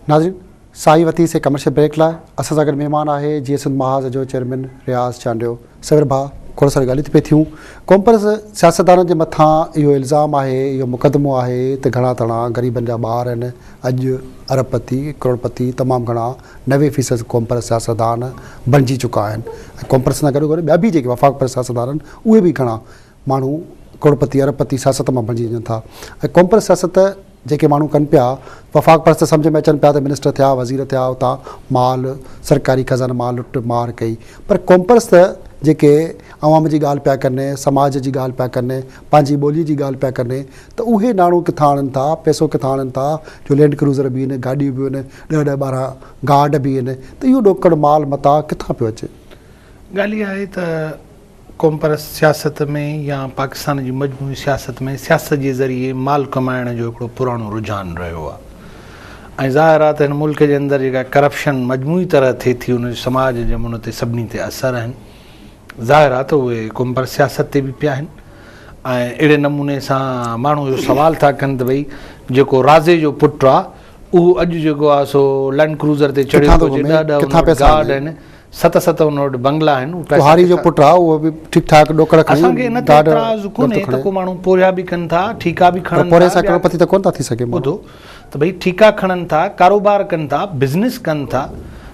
ناظرين سائين وتي سي ڪمرشل بريڪ لا اسان سان گڏ مهمان آهي جي سنڌ محاذ جو چيئرمين رياض چانڊيو سوير ڀا کوڙ ساري ڳالهيون ٿي پي ٿيون ڪومپرس سياستدانن جي مٿان اهو الزام آهي اهو مقدمو آهي ته گهڻا تڻا غريبن جا ٻار آهن اڄ اربپتي ڪروڙپتي تمام گهڻا نوي فيصد قومپرست سياستدان بڻجي چڪا آهن ۽ قومپرستن سان گڏوگڏ ٻيا به جيڪي وفاق پرست سياستدان آهن اهي به گهڻا ماڻهو ڪروڙپتي اربپتي سياست مان بڻجي وڃن ٿا ۽ قومپرست سياست جيڪي ماڻهو ڪن پيا وفاق پرست سمجهه ۾ اچن پيا ته منسٽر ٿيا وزير ٿيا اتان مال سرڪاري خزانه مان لٽ مار ڪئي پر قومپرست جيڪي عوام جي ڳالهه پيا ڪن سماج جي ڳالهه پيا ڪن پنهنجي ٻولي جي ڳالهه پيا ڪن ته اهي ناڻو ڪٿان آڻن ٿا، پئسو ڪٿان آڻن ٿا جو لينڊ ڪروزر به هين، گاڏيون به هين، ڏهه ڏهه ٻارهن گارڊ به هين ته اهو ڏوڪڙ مال متاع ڪٿان پيو اچي؟ ڳالهه اها آهي ته قومپرست سياست ۾ يا پاڪستان جي مجموعي سياست ۾ سياست جي ذريعي مال ڪمائڻ جو هڪڙو پراڻو رجحان رهيو آهي ۽ ظاهر آهي ته هن ملڪ جي اندر جيڪا ڪرپشن مجموعي طرح ٿئي ٿي ان جو سماج جي امن تي سڀني تي اثر آهن. ظاهر آهي ته اهي قوم پرست سياست تي به پيا آهن ۽ اهڙي نموني سان ماڻهو اهو سوال ٿا ڪن ته ڀئي جيڪو رازي جو پٽ آهي اهو اڄ جيڪو آهي سو لينڊ ڪروزر تي چڙهيو ٿو گهمي، ڏهه ڏهه ان وٽ گارڊ آهن، ست ست ان وٽ بنگلا آهن، اهو پئسا ڪهاري جو پٽ آهي اهو به ٺيڪ ٺاڪ ڏوڪڙ کڻي اسان کي ان تي اعتراض ڪونهي ته ڪو ماڻهو پورهيا به ڪن ٿا، ٺيڪا به کڻن ٿا، پر پورهيي سان ڪروڙپتي ته ڪونه ٿا ٿي سگهي ماڻهو. ته ڀئي ٺيڪا کڻن ٿا، ڪاروبار ڪن ٿا، بزنس ڪن ٿا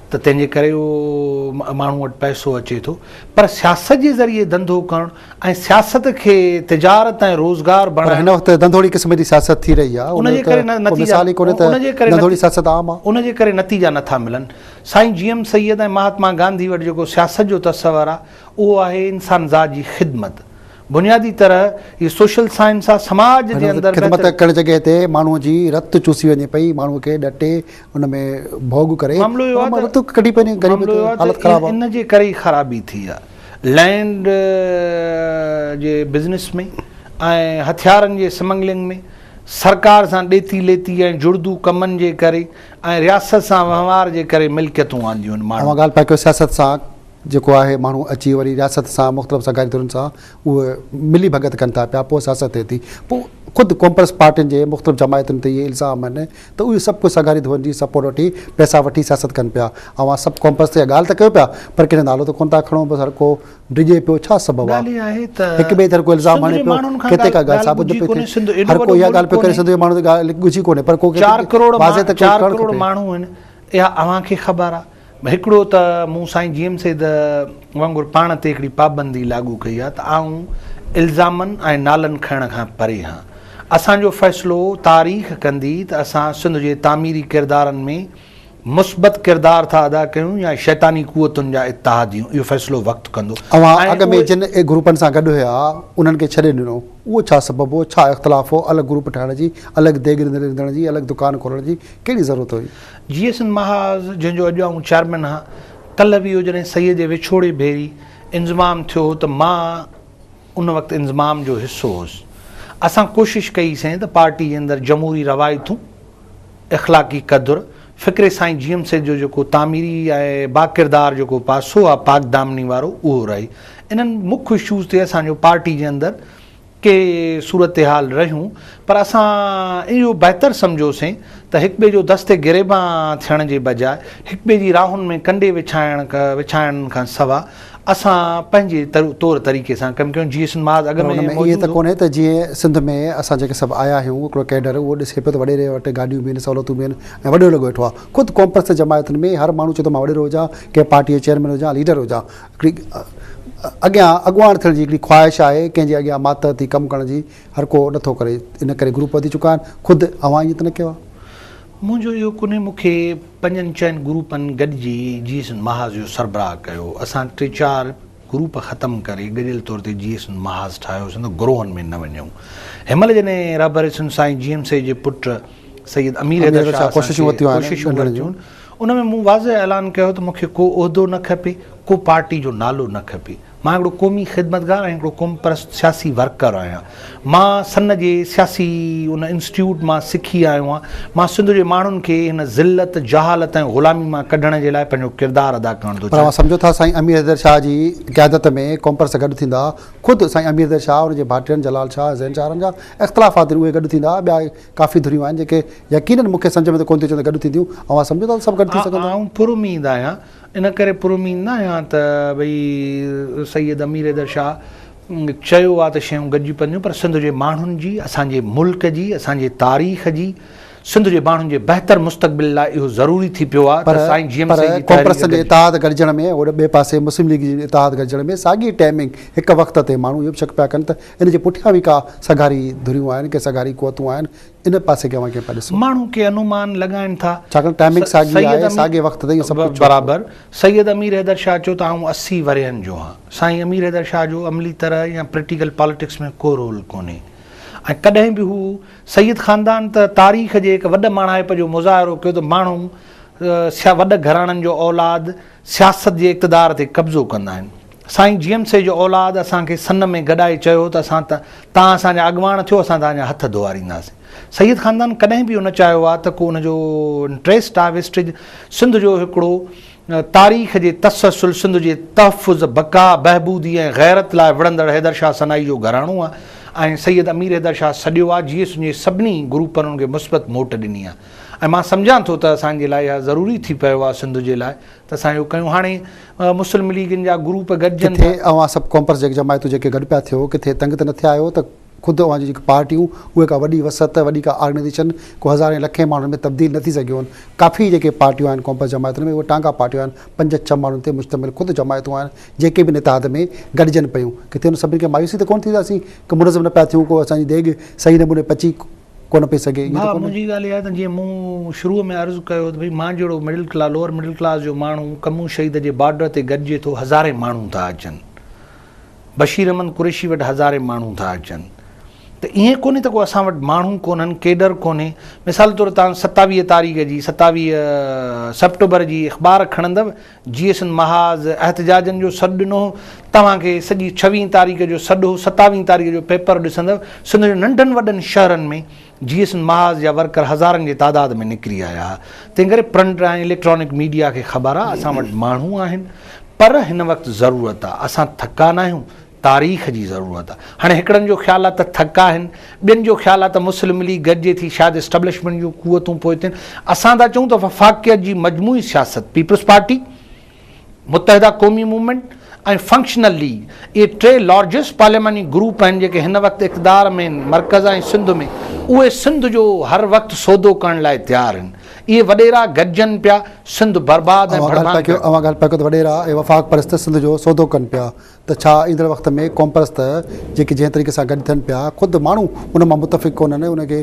ته تنهن جي ڪري ماڻهو وٽ پئسو اچي ٿو پر سياست جي ذريعي ڌنڌو ڪرڻ ۽ سياست کي تجارت ۽ روزگار بڻائڻ. پر هن وقت ڌنڌوڙي قسم جي سياست ٿي رهي آهي ان جي ڪري نتيجا ان جي ڪري نتيجا نه ٿا ملن. سائين جي ايم سيد ۽ مهاتما گانڌي وٽ جيڪو سياست جو تصور آهي اهو آهي انسان ذات جي خدمت. بنيادي طرح هي سوشل سائنس آ سماج جي اندر بهتري. خدمت ڪهڙي جڳهه تي ماڻهو جي رت چوسي وڃي پئي ماڻهو کي ڏٽي ان ۾ ڀوڳ ڪري معاملو اهو آ ته رت ڪڍي پئي غريب تي حالت خراب آ. ان جي ڪري ئي خرابي ٿي آ لينڊ جي بزنس ۾ ۽ هٿيارن جي سمنگلنگ ۾ سرڪار سان ڏيتي ليتي ۽ جڙدو ڪمن جي ڪري ۽ رياست سان وهنوار جي ڪري ملڪيتون آنديون آهن ماڻهن. اوهان ڳالهه پيا ڪيو سياست سان جيڪو آهي ماڻهو اچي وري رياست سان مختلف سرڪاري ڌرين سان اهو ملي ڀڳت ڪن ٿا پيا پوء سياست ٿئي ٿي پوء خود ڪونپرس پارٽين جي مختلف جماعتن تي اهي الزام آهن ته اهي سڀ ڪجهه سرڪاري ڌرين جي سپورٽ وٺي پئسا وٺي سياست ڪن پيا اوهان سڀ ڪونپرس تي اها ڳالهه ته ڪيو پيا پر ڪنهن جو نالو ته ڪونه ٿا کڻو بس هر ڪو ڊڄي پيو ڇا سبب آهي ڳالهه اها آهي ته هڪ ٻئي تي هر ڪو الزام سنڌ آڻي جي پيو ماڻهن کان ڪٿي ڪا ڳالهه ڳالهه ثابت نه ڳجهي پئي ڪونهي ٿئي سنڌ ايڏو هر ڪو وڏو اها ڳالهه ملڪ پيو ڪري ڪونهي سنڌ جي ماڻهن تي ڳالهه ڳجهي ڪونهي پر ڪو چار ڪروڙ واضح مان ته ڪو چار ڪرڻ ڪروڙ کپي ماڻهو آهن اها اوهان کي خبر آهي هڪڙو ته مون سائين جي ايم سيد وانگر پاڻ تي هڪڙي پابندي لاڳو ڪئي آهي ته آئون الزامن ۽ نالن کڻڻ کان پري هان. اسان جو فيصلو تاريخ ڪندي ته اسان سنڌ جي تعميري ڪردارن ۾ مثبت ڪردار ٿا ادا ڪيون يا شيطاني قوتن جا اتحاديون اهو فيصلو وقت ڪندو اوهان اڳ ۾ جن گروپن سان گڏ هيا انهن کي ڇڏي ڏنو اهو ڇا سبب هو؟ ڇا اختلاف هو؟ الڳ گروپ ٺاهڻ جي، الڳ ديڳ رڌڻ جي، الڳ دڪان کولڻ جي ڪهڙي ضرورت هئي؟ جي ايس محاذ جنهن جو اڄ آئون چيئرمين هان ڪلهه ويهو جڏهن سيد جي وڇوڙي ڀيري انضمام ٿيو هو ته مان ان وقت انضمام جو حصو هوس اسان ڪوشش ڪئي سين ته پارٽي جي اندر جمهوري روايتون اخلاقي قدر فڪري سائين جي ايم سيد جو جيڪو تعميري ۽ باڪردار جيڪو پاسو آ پاڪدامني وارو اهو رهي انهن مک اشوز تي اسان جو پارٽي جي اندر ڪي صورتحال رهيون پر اسان اهو بهتر سمجهيوسين ته هڪٻئي جو دست گريبان ٿيڻ جي بجاء هڪٻئي جي راهن ۾ ڪنڊي وڇائڻ وڇائڻ کان سوا اسان پنهنجي طور طريقي سان ڪم ڪيون جي سن محاذ اڳ پر ان ۾ ائين ته ڪونهي ته جيئن سنڌ ۾ اسان جيڪي سڀ آيا آهيون هڪڙو ڪيڊر اهو ڏسي پيو ته وڏيري وٽ گاڏيون به آهن سهولتون به آهن ۽ وڏيرو لڳو ويٺو آهي خود قومپرست جماعتن ۾ هر ماڻهو چوي ٿو مان وڏيرو هجان ڪنهن پارٽي جو چيئرمين هجان ليڊر هجان هڪڙي اڳيان اڳواڻ ٿيڻ جي هڪڙي خواهش آهي، ڪنهن جي اڳيان ماتحت ٿي ڪم ڪرڻ جي هرڪو نٿو ڪري، ان ڪري گروپ وڌي چڪا آهن، خود اوهان ائين ته نه ڪيو آهي؟ منهنجو اهو ڪونهي، مون کي پنجن ڇهن گروپن گڏجي جي ايس اين محاذ جو سربراهه ڪيو، اسان ٽي چار گروپ ختم ڪري گڏيل طور تي جي ايس اين محاذ ٺاهيو سين ته گروهن ۾ نه وڃون، هن مهل جڏهن رهبر ايس اين سائين جي ايم سي جي پٽ سيد امير حيدر شاهه اسان کي ڪوششون ورتيون آهن، ان ۾ مون واضح اعلان ڪيو ته مون کي ڪو عهدو نه کپي، ڪو پارٽي جو نالو نه کپي. مان هڪڙو قومي خدمتگار ۽ هڪڙو قومپرست سياسي ورڪر آهيان. مان سن جي سياسي ان انسٽيٽيوٽ مان سکي آيو آهيان. مان سنڌ جي ماڻهن کي هن ذلت، جهالت ۽ غلامي مان ڪڍڻ جي لاء پنهنجو ڪردار ادا ڪرڻ ٿو پر اوهان چاهيان. سمجهو ٿا سائين امير حيدر شاهه جي قيادت ۾ قومپرست گڏ ٿيندا، خود سائين امير حيدر شاهه، ان جي ڀائٽين جلال شاهه، حسين شاهه رنجا، اختلاف خاطر اهي گڏ ٿيندا، ٻيا ڪافي ڌريون آهن جيڪي يقينن مون کي سمجهه ۾ ته ڪونه ٿيو اچي ته گڏ ٿينديون. اوهان سمجهو ٿا ته سڀ گڏ ٿي سگهن ٿا؟ آئون پراميد آهيان. ان ڪري پراميد نه آهيان ته ڀئي سيد امير حيدر شاهه چيو آهي ته شيون گڏجي پونديون پر سنڌ جي ماڻهن جي، اسان جي ملڪ جي، اسان جي تاريخ جي، سنڌ جي ماڻهن جي بهتر مستقبل لاء اهو ضروري ٿي پيو آهي ته سائين جي ايم سيد جي تحريڪ گڏجي. پر ڪانگريس جي اتحاد گڏجڻ ۾ ۽ ٻئي پاسي مسلم ليگ جي اتحاد گڏجڻ ۾ ساڳي ٽائمنگ هڪ وقت تي ماڻهو اهو به شڪ پيا ڪن ته ان جي پٺيان به ڪا سگهاري ڌريون آهن، ڪي سگهاري قوتون آهن، ان پاسي کي اوهان ڪيئن پيا ڏسو؟ ماڻهو ڪي انومان لڳائين ٿا. ڇاڪاڻ ٽائمنگ ساڳي آهي، ساڳي وقت تي اهو سڀ ڪجهه ڇو ٿيو؟ برابر. سيد امير حيدر شاهه چيو ته آئون اسي ورهين جو آهيان. سائين امير حيدر شاهه جو عملي طرح يا پريٽيڪل پاليٽڪس ۾ ڪو رول ڪونهي ۽ ڪڏهن به هو سيد خاندان ته تاريخ جي هڪ وڏ ماڻهائپ جو مظاهرو ڪيو ته ماڻهو سيا وڏ گهراڻن جو اولاد سياست جي اقتدار تي قبضو ڪندا آهن. سائين جيم سي جو اولاد اسان کي سن ۾ گڏائي چيو ته اسان تان اسان جا اڳواڻ ٿيو اسان تان جا هٿ ڌوئارينداسين. سيد خاندان ڪڏهن به اهو نه چاهيو آ ته ڪو ان جو انٽريسٽ آ ويسٽيج سنڌ جو هڪڙو تاريخ جي تسلسل سنڌ جي تحفظ بقا بهبودي ۽ غيرت لاء وڙهندڙ حيدر شاهه سنائي جو گهراڻو آ ۽ سيد امير حيدر شاهه سڏيو آ جيئي سنجي سڀني گروپن ان کي مثبت موٽ ڏني آ ۽ مان سمجهان ٿو ته اسان جي لاء اها ضروري ٿي پيو آ سنڌ جي لاء ته اسان اهو ڪيون هاڻي مسلم ليگن جا گروپ گڏجن ٿا. ڪٿي اوهان سڀ ڪونپرس جيڪي جماعتون جيڪي گڏ پيا ٿيو ڪٿي تنگ ته نه ٿيا آهيو ته خود اوهان جون جيڪي پارٽيون اهي ڪا وڏي وسعت وڏي ڪا آرگنائيزيشن ڪو هزارين لکين ماڻهن ۾ تبديل نه ٿي سگهيو آهن ڪافي جيڪي پارٽيون آهن ڪونپرس جماعتن ۾ اهي ٽانگا پارٽيون آهن پنج ڇهه ماڻهن تي مشتمل خود جماعتون آهن جيڪي به ان اتحاد ۾ گڏجن پيون ڪٿي ان سڀني کي مايوسي ته ڪونه ٿيندي ته اسين ڪو منظم نه پيا ٿيون ڪو اسان جي ديڳ صحيح نموني پچي ڪونه پئي سگهي. ڀاء منهنجي ڳالهه اها آهي ته جيئن مون شروع ۾ عرض ڪيو ته ڀئي مان جهڙو middle class lower middle class جو ماڻهو ڪمون شهيد جي بارڊر تي گڏجي ٿو هزارين ماڻهو ٿا اچن بشير احمد قريشي وٽ هزارين ماڻهو ٿا اچن ته ائين ڪونهي ته ڪو اسان وٽ ماڻهو ڪونهن ڪيڊر ڪونهي مثال طور تان ستاويهه تاريخ جي ستاويهه سپٽمبر جي اخبار کڻندو جي سن محاذ احتجاجن جو سڏ ڏنو هو، توهان کي سڄي ڇويهين تاريخ جو سڏ هو، ستاويهين تاريخ جو پيپر ڏسندؤ، سنڌ جي ننڍن وڏن شهرن ۾ جي سن محاذ جا ورڪر هزارن جي تعداد ۾ نڪري آيا ها، تنهن ڪري پرنٽ ۽ اليڪٽرانڪ ميڊيا کي خبر آ اسان وٽ ماڻهو آهن پر هن وقت ضرورت آ، اسان ٿڪا ناهيون، تاريخ جي ضرورت آ. هاڻي هڪڙن جو خيال آ ته ٿڪ آهن، ٻين جو خيال آ ته مسلم ليگ گڏجي ٿي، شايد اسٽبلشمينٽ جون قوتون پوئتين. اسان ٿا چئون ته وفاقيت جي مجموعي سياست، پيپلز پارٽي، متحده قومي موومينٽ ۽ فنڪشنل ليگ، اهي ٽي لارجسٽ پارلياماني گروپ آهن جيڪي هن وقت اقتدار ۾ آهن مرڪز ۽ سنڌ ۾، اهي سنڌ جو هر وقت سودو ڪرڻ لاء تيار آهن. اهي وڏيرا گڏجن پيا، سنڌ برباد ۽ ڀڙڀان ڪرڻ. اوهان ڳالهه پيا ڪيو ته وڏيرا ۽ وفاق پرست سنڌ جو سودو ڪن پيا. ته ڇا ايندڙ وقت ۾ قومپرست جيڪي جنهن طريقي سان گڏ ٿين پيا خود ماڻهو ان مان متفق ڪونهن ان کي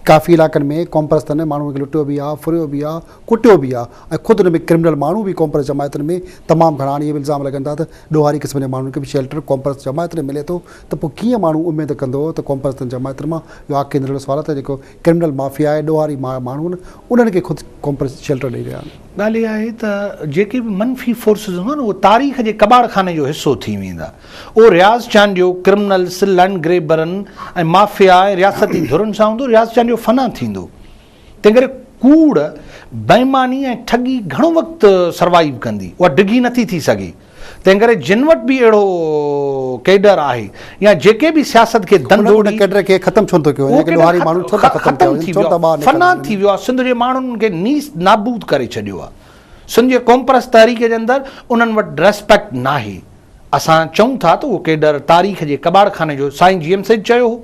ڪافي علائقن ۾ قومپرستن ماڻهن کي لٽيو به آهي ڦريو به آهي ڪٽيو به آهي ۽ خود ان ۾ ڪرمنل ماڻهو به قومپرست جماعتن ۾ تمام گهڻا آهن اهي به الزام لڳن ٿا ته ڏوهاري قسم جي ماڻهن کي به شيلٽر قومپرست جماعتن ۾ ملي ٿو ته پوء ڪيئن ماڻهو اميد ڪندو ته قومپرستن جماعتن مان اهو آخري نرڙو سوال آهي ته جيڪو ڪرمنل مافيا ۽ ڏوهاري ماڻهو آهن انهن کي خود ڪمپريس شيلٽر ڏئي رهيا آهن. ڳالهه اها آهي ته جيڪي به منفي فورسز هوندا اهي تاريخ جي ڪٻاڙ خاني جو حصو ٿي ويندا. اهو رياض چانڊيو ڪرمنلس، لئنڊ گريبرن ۽ مافيا ۽ رياستي ڌرين سان هوندو رياض چانڊيو فنا ٿيندو. تنهن ڪري ڪوڙ، بيماني ۽ ٺڳي گهڻو وقت سروائيو ڪندي. اها ڊگهي نٿي ٿي سگهي. تنهن ڪري جن وٽ به اهڙو ڪيڊر آهي يا جيڪي به سياست کي ڌن ڌوڙي ان ڪيڊر کي ختم ڇو نه ٿو ڪيو وڃي ڪي ڏوهاري ماڻهو ڇو ٿا ختم ٿيا وڃن ڇو ٿا ٻاهر نڪرن فنا ٿي ويو آهي سنڌ جي ماڻهن کي نيس نابود ڪري ڇڏيو آهي سنڌ جي قومپرست تحريڪ جي اندر انهن وٽ ريسپيڪٽ ناهي اسان چئون ٿا ته اهو ڪيڊر تاريخ جي ڪٻاڙ خاني جو سائين جي ايم سيد چيو هو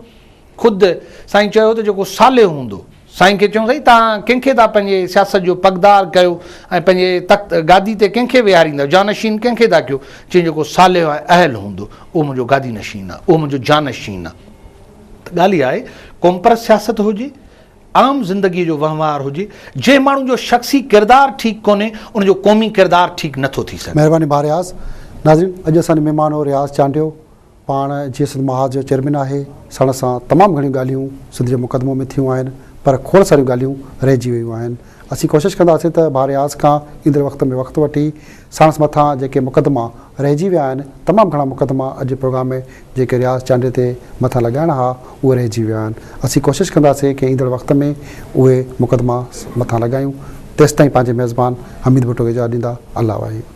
خود سائين چيو ته جيڪو صالح هوندو سائين کي چون سائين توهان ڪنهن کي ٿا پنهنجي سياست جو پڳدار ڪيو ۽ پنهنجي تخت گادي تي ڪنهن کي ويهاريندا جانشين ڪنهن کي ٿا ڪيو چين جيڪو صالح ۽ اهل هوندو اهو منهنجو گادي نشين آهي اهو منهنجو جانشين آهي ته ڳالهه اها آهي قومپرست سياست هجي عام زندگي جو وهنوار هجي جنهن ماڻهو جو شخصي ڪردار ٺيڪ ڪونهي ان جو قومي ڪردار ٺيڪ نٿو ٿي سگهي. مهرباني ڀا رياض. ناظرين اڄ اسان جو مهمان هو رياض چانڊيو. پاڻ جيئن سنڌ محاذ جو چيئرمين آهي، ساڻس سان تمام گهڻيون ڳالهيون سنڌ جي مقدمو ۾ ٿيون آهن، پر کوڙ ساريون ڳالهيون رهجي ويون آهن. اسين ڪوشش ڪنداسين ته ڀاء رياض کان ايندڙ وقت ۾ وقت وٺي ساڻس مٿان جيڪي مقدما رهجي ويا آهن، تمام گهڻا مقدما اڄ جي پروگرام ۾ جيڪي رياض چانڊيي تي مٿان لڳائڻا ها، اهي رهجي ويا آهن. اسين ڪوشش ڪنداسين ڪي ايندڙ وقت ۾ اهي مقدما مٿان لڳايون. تيستائين پنهنجي ميزبان حميد ڀٽو کي اجازت ڏيندا. الله واحد.